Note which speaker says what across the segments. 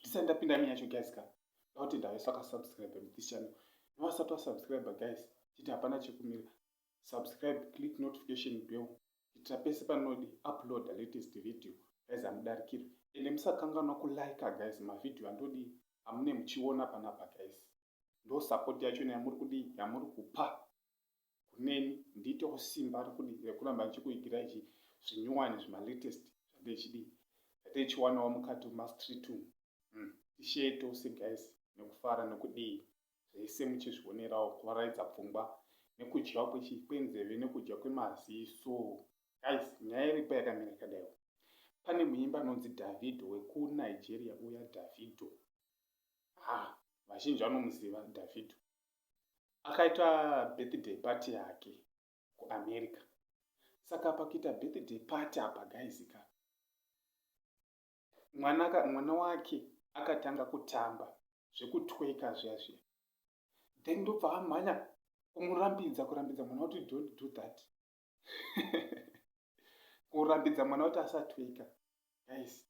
Speaker 1: ndisati ndapinda mi yacho guys ka dauti ndavesa akasubscribe this channel nevasati vasubscribe guys chiti hapana chekumira subscribe click notification bell kuitira pese panodi upload latest video guys hamudarikirwe ende musakanganwa kulike guys mavhidhiyo andodi amune muchiona panapa guys ndo support yacho neyamuri kudii yamuri kupa kuneni ndiitewo simba rekudi rekuramba ndichikuigira ichi zvinyuwani zvimalatest zvatechidi zvatechiwanawo mukati mumastreet umu hmm, tishee tose guys nekufara nekudii zvese muchizvionerawo kuvaraidza pfungwa nekudyiwa kwenzeve nekudya kwemaziso guys nyaya iripo yakamira kadaiwo pane muimba anonzi davido wekunigeria uya davido ha ah, vazhinji vanomuziva davido akaita birthday party yake kuamerica saka pakuita birthday party apa gaizika mwana, mwana wake akatanga kutamba zvekutweka zviya zviya then ndobva amhanya kumurambidza kurambidza mwana kuti don't do that kurambidza mwana kuti asatweka guys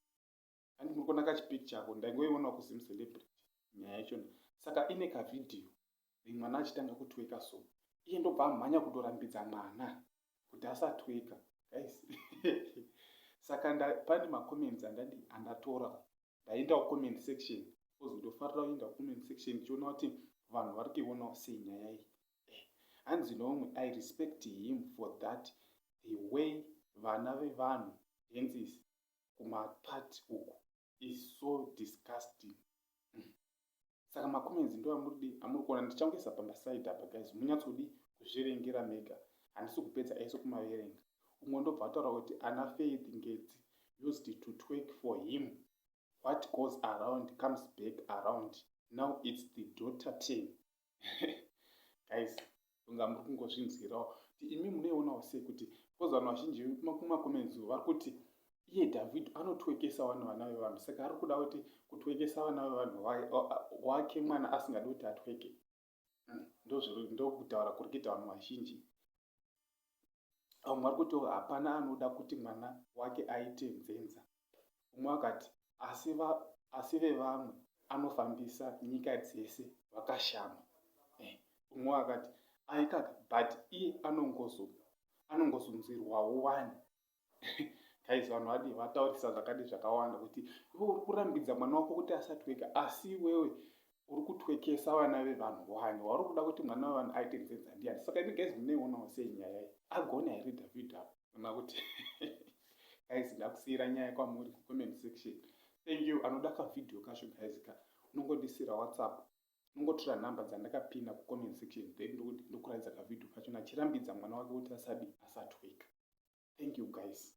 Speaker 1: and muri kuona kachipicture ako ndaingoiona kusim celebrity nyaya yacho saka ine kavhidhiyo mwana achitanga kutweka so iye ndobva amhanya kutorambidza mwana kuti asatweka guys saka pane macomments andadi andatora ndaenda kucomment section bcause ndofarira kuenda kucomment section ndichiona kuti vanhu vari kuionawo sei nyaya iyi eh, hanzi noumwe i respect him for that the way vana vevanhu hensis kumaparts uku is so disgusting mm. saka macomments ndo amuridi amuri kuona ndichangoisa pamba side apa guys munyatsodi kuzvirengera mega handisi kupedza ese kumaverenga umwe ndobva ataura kuti ana faith ngedzi used to twerk for him what goes around comes back around now its the daughter ten guys kunga muri kungozvinzwirawo kuti imi munoionawo sei kuti bcause vanhu vazhinji kumakoments vari kuti iye david anotwekesa vanhu vana vevanhu saka ari kuda kuti kutwekesa vana vevanhu wake mwana asingadi kuti atweke hmm, ndokutaura kuri kuita vanhu vazhinji vamwe vari kuti hapana anoda kuti mwana wake aite nzenza umwe akati asi va asi vevamwe anofambisa nyika dzese vakashama eh, umwe eh, akati aikaka but iye anongozunzirwawo wani guys vanhu vadii vataurisa zvakadi zvakawanda kuti iwe uri kurambidza mwana wako kuti asatweka asi iwewe uri kutwekesa vana vevanhu wani wauri kuda kuti mwana wevanhu aite nzenza ndiyani saka ini guys muneionawo sei nyaya iyi agona here david apo ona kuti guys ndakusiyira nyaya kwamuri comment section thank you anoda kavhidhiyo kacho guys ka unongodisira whatsapp nongotora number dzandakapinda kucomment section then ndokuti ndokuratidza kavideo kacho nachirambidza mwana wake kuti asadi asatweka thank you guys